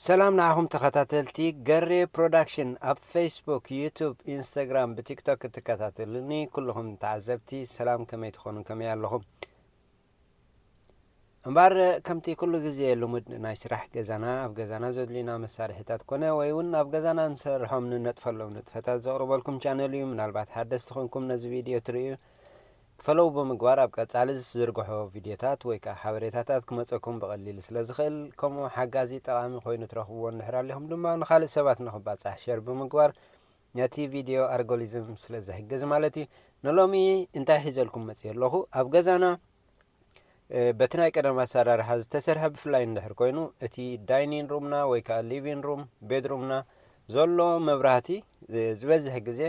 ሰላም ንዓኹም ተኸታተልቲ ገሬ ፕሮዳክሽን ኣብ ፌስቡክ፣ ዩቱብ፣ ኢንስታግራም ብቲክቶክ እትከታተሉኒ ኩልኹም ተዓዘብቲ ሰላም ከመይ ትኾኑ ከመይ ኣለኹም? እምበር ከምቲ ኩሉ ግዜ ልሙድ ናይ ስራሕ ገዛና ኣብ ገዛና ዘድልዩና መሳርሒታት ኮነ ወይ እውን ኣብ ገዛና ንሰርሖም ንነጥፈሎም ንጥፈታት ዘቕርበልኩም ቻነል እዩ። ምናልባት ሓደስቲ ኮንኩም ነዚ ቪድዮ ትርእዩ ፈሎው ብምግባር ኣብ ቀጻሊ ዝዝርግሖ ቪድዮታት ወይ ከኣ ሓበሬታታት ክመጸኩም ብቐሊሉ ስለ ዝኽእል ከምኡ ሓጋዚ ጠቓሚ ኮይኑ ትረኽብዎ እንድሕር ኣሊኹም ድማ ንኻልእ ሰባት ንኽባጻሕ ሸር ብምግባር ነቲ ቪድዮ ኣርጎሊዝም ስለ ዝሕግዝ ማለት እዩ ንሎሚ እንታይ ሒዘልኩም መጽየ ኣለኹ ኣብ ገዛና በቲ ናይ ቀደም ኣሰራርሓ ዝተሰርሐ ብፍላይ እንድሕር ኮይኑ እቲ ዳይኒን ሩምና ወይ ከዓ ሊቪን ሩም ቤድሩምና ዘሎ መብራህቲ ዝበዝሕ ግዜ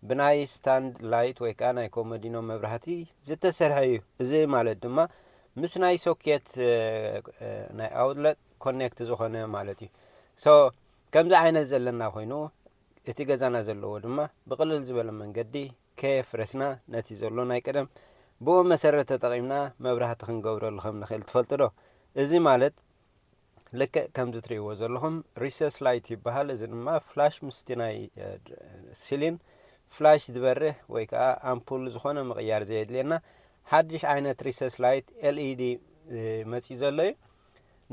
ብናይ ስታንድ ላይት ወይ ከኣ ናይ ኮመዲኖ መብራህቲ ዝተሰርሐ እዩ። እዚ ማለት ድማ ምስ ናይ ሶኬት ናይ ኣውትለት ኮኔክት ዝኾነ ማለት እዩ። ሶ ከምዚ ዓይነት ዘለና ኮይኑ እቲ ገዛና ዘለዎ ድማ ብቅልል ዝበለ መንገዲ ከየፍረስና ነቲ ዘሎ ናይ ቀደም ብኡ መሰረት ተጠቂምና መብራህቲ ክንገብረሉ ከም ንኽእል ትፈልጡ ዶ? እዚ ማለት ልክዕ ከምዚ ትርእይዎ ዘለኹም ሪሰስ ላይት ይበሃል እዚ ድማ ፍላሽ ምስቲ ናይ ሲሊን ፍላሽ ዝበርህ ወይ ከዓ ኣምፑል ዝኾነ ምቕያር ዘየድልየና ሓድሽ ዓይነት ሪሰስ ላይት ኤልኢዲ መፅዩ ዘሎ እዩ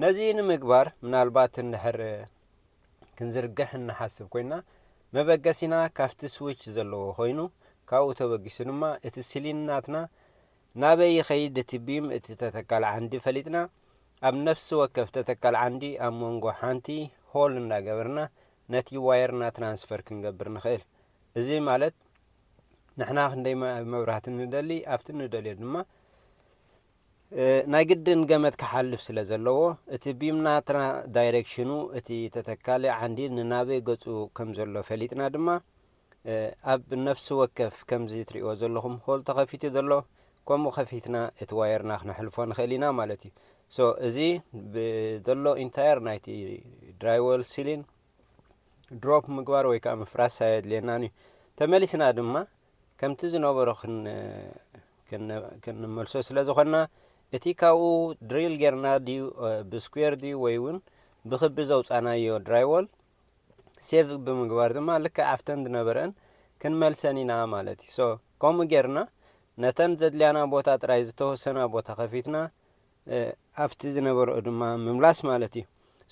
ነዚ ንምግባር ምናልባት እንድሕር ክንዝርግሕ እንሓስብ ኮይና መበገሲና ካብቲ ስዊች ዘለዎ ኮይኑ ካብኡ ተበጊሱ ድማ እቲ ሲሊን ናትና ናበይ ይኸይድ እቲ ቢም እቲ ተተካሊ ዓንዲ ፈሊጥና ኣብ ነፍሲ ወከፍ ተተካሊ ዓንዲ ኣብ መንጎ ሓንቲ ሆል እንዳገበርና ነቲ ዋየርና ትራንስፈር ክንገብር ንኽእል እዚ ማለት ንሕና ክንደይ መብራህቲ ንደሊ ኣብቲ ንደልዮ ድማ ናይ ግድን ገመድ ክሓልፍ ስለ ዘለዎ እቲ ቢምና ዳይሬክሽኑ እቲ ተተካሊ ዓንዲ ንናበይ ገጹ ከም ዘሎ ፈሊጥና ድማ ኣብ ነፍሲ ወከፍ ከምዚ ትርእይዎ ዘለኹም ሆል ተኸፊቱ ዘሎ ከምኡ ከፊትና እቲ ዋየርና ክነሕልፎ ንኽእል ኢና ማለት እዩ ሶ እዚ ብዘሎ ኢንታየር ናይቲ ድራይወል ሲሊን ድሮፕ ምግባር ወይ ከዓ ምፍራስ ኣየድልየናን እዩ ተመሊስና ድማ ከምቲ ዝነበሮ ክንመልሶ ስለ ዝኾንና እቲ ካብኡ ድሪል ጌርና ድዩ ብስኩዌር ድዩ ወይ እውን ብክቢ ዘውፃናዮ ድራይወል ሴቭ ብምግባር ድማ ልክዕ ኣብተን ዝነበረእን ክንመልሰን ኢና ማለት እዩ ሶ ከምኡ ጌርና ነተን ዘድልያና ቦታ ጥራይ ዝተወሰና ቦታ ከፊትና ኣብቲ ዝነበረኡ ድማ ምምላስ ማለት እዩ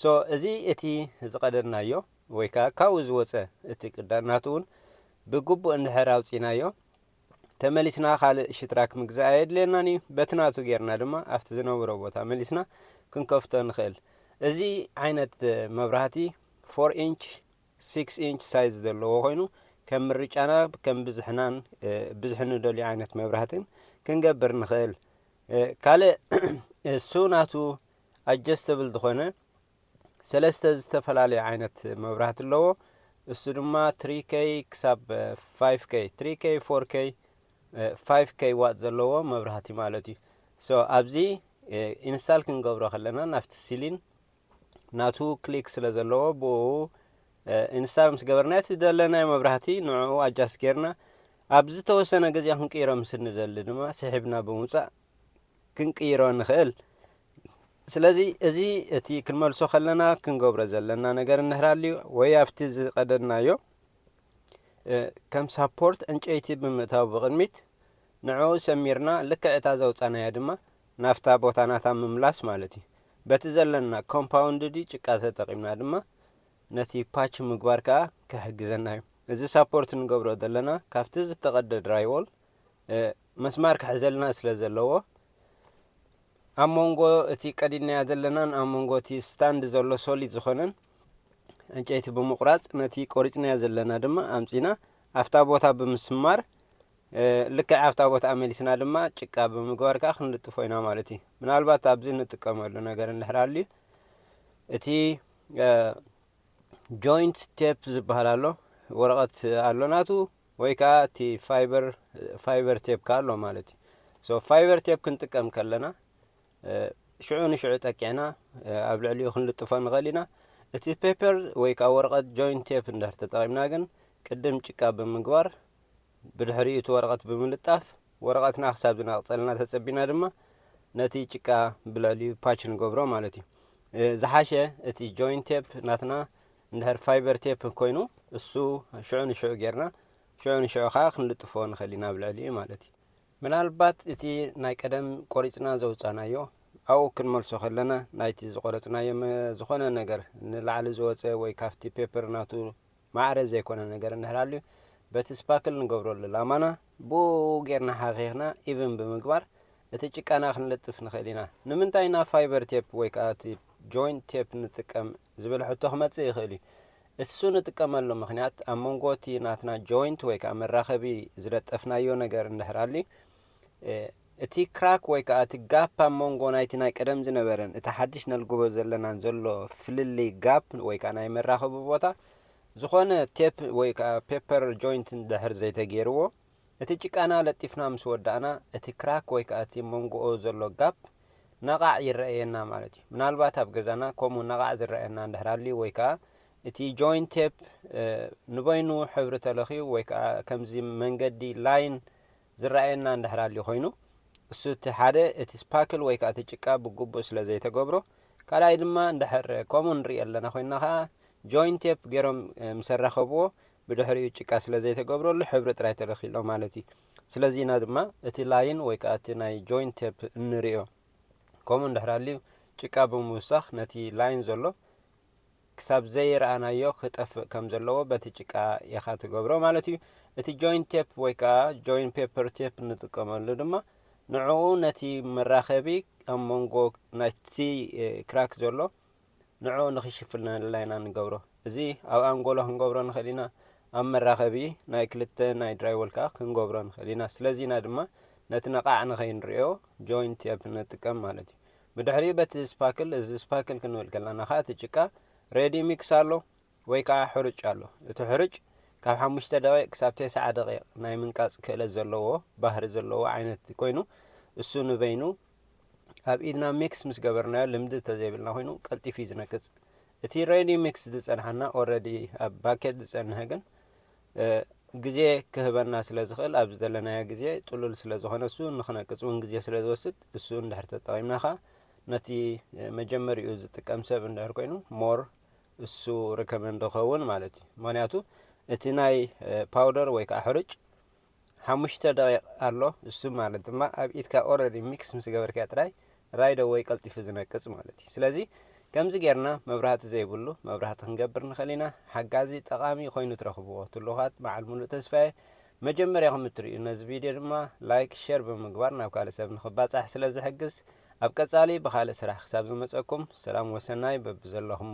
ሶ እዚ እቲ ዝቀደድናዮ ወይ ከዓ ካብኡ ዝወፀ እቲ ቅዳድናት እውን ብግቡእ እንድሕር ኣውፂናዮ ተመሊስና ካልእ ሽትራክ ምግዛእ ኣየድልየናን እዩ። በቲ ናቱ ጌርና ድማ ኣብቲ ዝነብሮ ቦታ መሊስና ክንከፍቶ ንኽእል። እዚ ዓይነት መብራህቲ ፎር ኢንች ሲክስ ኢንች ሳይዝ ዘለዎ ኮይኑ ከም ምርጫና ከም ብዝሕናን ብዝሒ ንደልዩ ዓይነት መብራህትን ክንገብር ንኽእል። ካልእ እሱ ናቱ ኣጀስተብል ዝኾነ ሰለስተ ዝተፈላለዩ ዓይነት መብራህቲ ኣለዎ እሱ ድማ 3K ክሳብ 5K 3K 4K 5K ዋት ዘለዎ መብራህቲ ማለት እዩ ሶ ኣብዚ ኢንስታል ክንገብሮ ከለና ናብቲ ሲሊን ናቱ ክሊክ ስለ ዘለዎ ብኡ ኢንስታል ምስ ገበርና እቲ ዘለናዮ መብራህቲ ንዕኡ ኣጃስት ጌርና ኣብ ዝተወሰነ ግዜ ክንቅይሮ ምስ ንደሊ ድማ ስሒብና ብምውፃእ ክንቅይሮ ንኽእል። ስለዚ እዚ እቲ ክንመልሶ ከለና ክንገብሮ ዘለና ነገር እንህራልዩ ወይ ኣብቲ ዝቀደድናዮ ከም ሳፖርት ዕንጨይቲ ብምእታው ብቅድሚት ንዕኡ ሰሚርና ልክዕ እታ ዘውጻናያ ድማ ናብታ ቦታ ናታ ምምላስ ማለት እዩ። በቲ ዘለና ኮምፓውንድዲ ጭቃ ተጠቂምና ድማ ነቲ ፓች ምግባር ከኣ ክሕግዘና እዩ። እዚ ሳፖርት ንገብሮ ዘለና ካብቲ ዝተቀደ ድራይዎል መስማር ክሕዘልና ስለ ዘለዎ ኣብ መንጎ እቲ ቀዲድናዮ ዘለናን ኣብ መንጎ እቲ ስታንድ ዘሎ ሶሊድ ዝኾነን ዕንጨይቲ ብምቑራጽ ነቲ ቆሪጽናዮ ዘለና ድማ ኣምጺና ኣብታ ቦታ ብምስማር ልክዕ ኣብታ ቦታ ኣመሊስና ድማ ጭቃ ብምግባር ከዓ ክንልጥፎ ኢና ማለት እዩ ምናልባት ኣብዚ እንጥቀመሉ ነገር እንድሕር ኣልዩ እቲ ጆይንት ቴፕ ዝበሃል ኣሎ ወረቐት ኣሎ ናቱ ወይ ከኣ እቲ ፋይበር ፋይበር ቴፕ ከኣ ኣሎ ማለት እዩ ሶ ፋይበር ቴፕ ክንጥቀም ከለና ሽዑ ንሽዑ ጠቂዕና ኣብ ልዕሊኡ ክንልጥፎ ንኽእል ኢና እቲ ፔፐር ወይ ከኣ ወረቐት ጆይንት ቴፕ እንድሕር ተጠቒምና ግን ቅድም ጭቃ ብምግባር ብድሕሪኡ እቲ ወረቐት ብምልጣፍ ወረቐትና ክሳብ ዝናቕጸልና ተጸቢና ድማ ነቲ ጭቃ ብልዕሊኡ ፓች ንገብሮ ማለት እዩ ዝሓሸ እቲ ጆይንት ቴፕ ናትና እንድሕር ፋይበር ቴፕ ኮይኑ እሱ ሽዑ ንሽዑ ጌርና ሽዑ ንሽዑ ከኣ ክንልጥፎ ንኽእል ኢና ኣብ ልዕሊኡ ማለት እዩ። ምናልባት እቲ ናይ ቀደም ቆሪጽና ዘውጻእናዮ ኣብኡ ክንመልሶ ከለና ናይቲ ዝቆረጽናዮ ዝኾነ ነገር ንላዕሊ ዝወጸ ወይ ካብቲ ፔፐር ናቱ ማዕረ ዘይኮነ ነገር እንድሕር ሃልዩ በቲ ስፓክል ንገብረሉ ላማና ብኡኡ ጌርና ሓኺኽና ኢቭን ብምግባር እቲ ጭቃና ክንልጥፍ ንኽእል ኢና። ንምንታይ ኢና ፋይበር ቴፕ ወይ ከኣ እቲ ጆይንት ቴፕ ንጥቀም ዝብል ሕቶ ክመጽእ ይኽእል እዩ። እሱ ንጥቀመሉ ምኽንያት ኣብ መንጎ እቲ ናትና ጆይንት ወይ ከኣ መራኸቢ ዝለጠፍናዮ ነገር እንድሕር ሃልዩ እቲ ክራክ ወይ ከኣ እቲ ጋፕ ኣብ መንጎ ናይቲ ናይ ቀደም ዝነበረን እቲ ሓድሽ ነልግቦ ዘለናን ዘሎ ፍልልይ ጋፕ ወይ ከኣ ናይ መራኸቢ ቦታ ዝኾነ ቴፕ ወይ ከኣ ፔፐር ጆይንት እንድሕር ዘይተገይርዎ፣ እቲ ጭቃና ለጢፍና ምስ ወዳእና፣ እቲ ክራክ ወይ ከኣ እቲ መንጎኡ ዘሎ ጋፕ ነቓዕ ይረኣየና ማለት እዩ። ምናልባት ኣብ ገዛና ከምኡ ነቓዕ ዝረኣየና እንድሕር ሃልዩ ወይ ከኣ እቲ ጆይንት ቴፕ ንበይኑ ሕብሪ ተለኽዩ ወይ ከኣ ከምዚ መንገዲ፣ ላይን፣ ዝረኣየና እንድሕር ኣልዩ ኮይኑ እሱ እቲ ሓደ እቲ ስፓክል ወይ ከኣ እቲ ጭቃ ብጉቡእ ስለ ዘይተገብሮ ካልኣይ ድማ እንድሕር ከምኡ ንሪኢ ኣለና ኮይና ከኣ ጆይንት ቴፕ ገይሮም ምስ ኣራኸብዎ ብድሕሪኡ ጭቃ ስለ ዘይተገብረሉ ሕብሪ ጥራይ ተለኺሎ ማለት እዩ ስለዚ ኢና ድማ እቲ ላይን ወይ ከኣ እቲ ናይ ጆይንት ቴፕ እንሪኦ ከምኡ እንድሕር ኣልዩ ጭቃ ብምውሳኽ ነቲ ላይን ዘሎ ክሳብ ዘይረኣናዮ ክጠፍእ ከም ዘለዎ በቲ ጭቃ ኢኻ ትገብሮ ማለት እዩ። እቲ ጆይንት ቴፕ ወይ ከኣ ጆይንት ፔፐር ቴፕ እንጥቀመሉ ድማ ንዕኡ ነቲ መራኸቢ ኣብ መንጎ ናይቲ ክራክ ዘሎ ንዕኡ ንኽሽፍልነልና ኢና ንገብሮ። እዚ ኣብ ኣንጎሎ ክንገብሮ ንኽእል ኢና፣ ኣብ መራኸቢ ናይ ክልተ ናይ ድራይወል ከኣ ክንገብሮ ንኽእል ኢና። ስለዚ ኢና ድማ ነቲ ነቓዕ ንኸይንርእዮ ጆይንት ቴፕ ንጥቀም ማለት እዩ። ብድሕሪኡ በቲ ስፓክል እዚ ስፓክል ክንብል ከለና ከኣ እቲ ጭቃ ሬዲ ሚክስ ኣሎ ወይ ከኣ ሕሩጭ ኣሎ እቲ ሕሩጭ ካብ ሓሙሽተ ደቂቅ ክሳብ ቴስዓ ደቂቅ ናይ ምንቃጽ ክእለት ዘለዎ ባህሪ ዘለዎ ዓይነት ኮይኑ እሱ ንበይኑ ኣብ ኢድና ሚክስ ምስ ገበርናዮ ልምዲ እንተዘይብልና ኮይኑ ቀልጢፉ እዩ ዝነቅጽ እቲ ሬዲ ሚክስ ዝጸንሓና ኦረዲ ኣብ ባኬት ዝጸንሐ ግን ግዜ ክህበና ስለ ዝኽእል ኣብ ዝደለናዮ ግዜ ጥሉል ስለ ዝኾነ እሱ ንክነቅጽ እውን ግዜ ስለ ዝወስድ እሱ እንድሕር ተጠቒምና ከኣ ነቲ መጀመሪኡ ዝጥቀም ሰብ እንድሕር ኮይኑ ሞር እሱ ሪከመንድ ክኸውን ማለት እዩ ምክንያቱ እቲ ናይ ፓውደር ወይ ከዓ ሕርጭ ሓሙሽተ ደቂቅ ኣሎ እሱ ማለት ድማ ኣብ ኢድካ ኦረዲ ሚክስ ምስ ገበርካዮ ጥራይ ራይድ ኣወይ ቀልጢፉ ዝነቅጽ ማለት እዩ ስለዚ ከምዚ ጌርና መብራህቲ ዘይብሉ መብራህቲ ክንገብር ንኽእል ኢና ሓጋዚ ጠቓሚ ኮይኑ ትረኽብዎ ትሉኻት በዓል ሙሉእ ተስፋየ መጀመርያኹም እትርእዩ ነዚ ቪድዮ ድማ ላይክ ሼር ብምግባር ናብ ካልእ ሰብ ንኽባጻሕ ስለ ዝሕግዝ ኣብ ቀጻሊ ብኻልእ ስራሕ ክሳብ ዝመጸኩም ሰላም ወሰናይ በብዘለኹሞ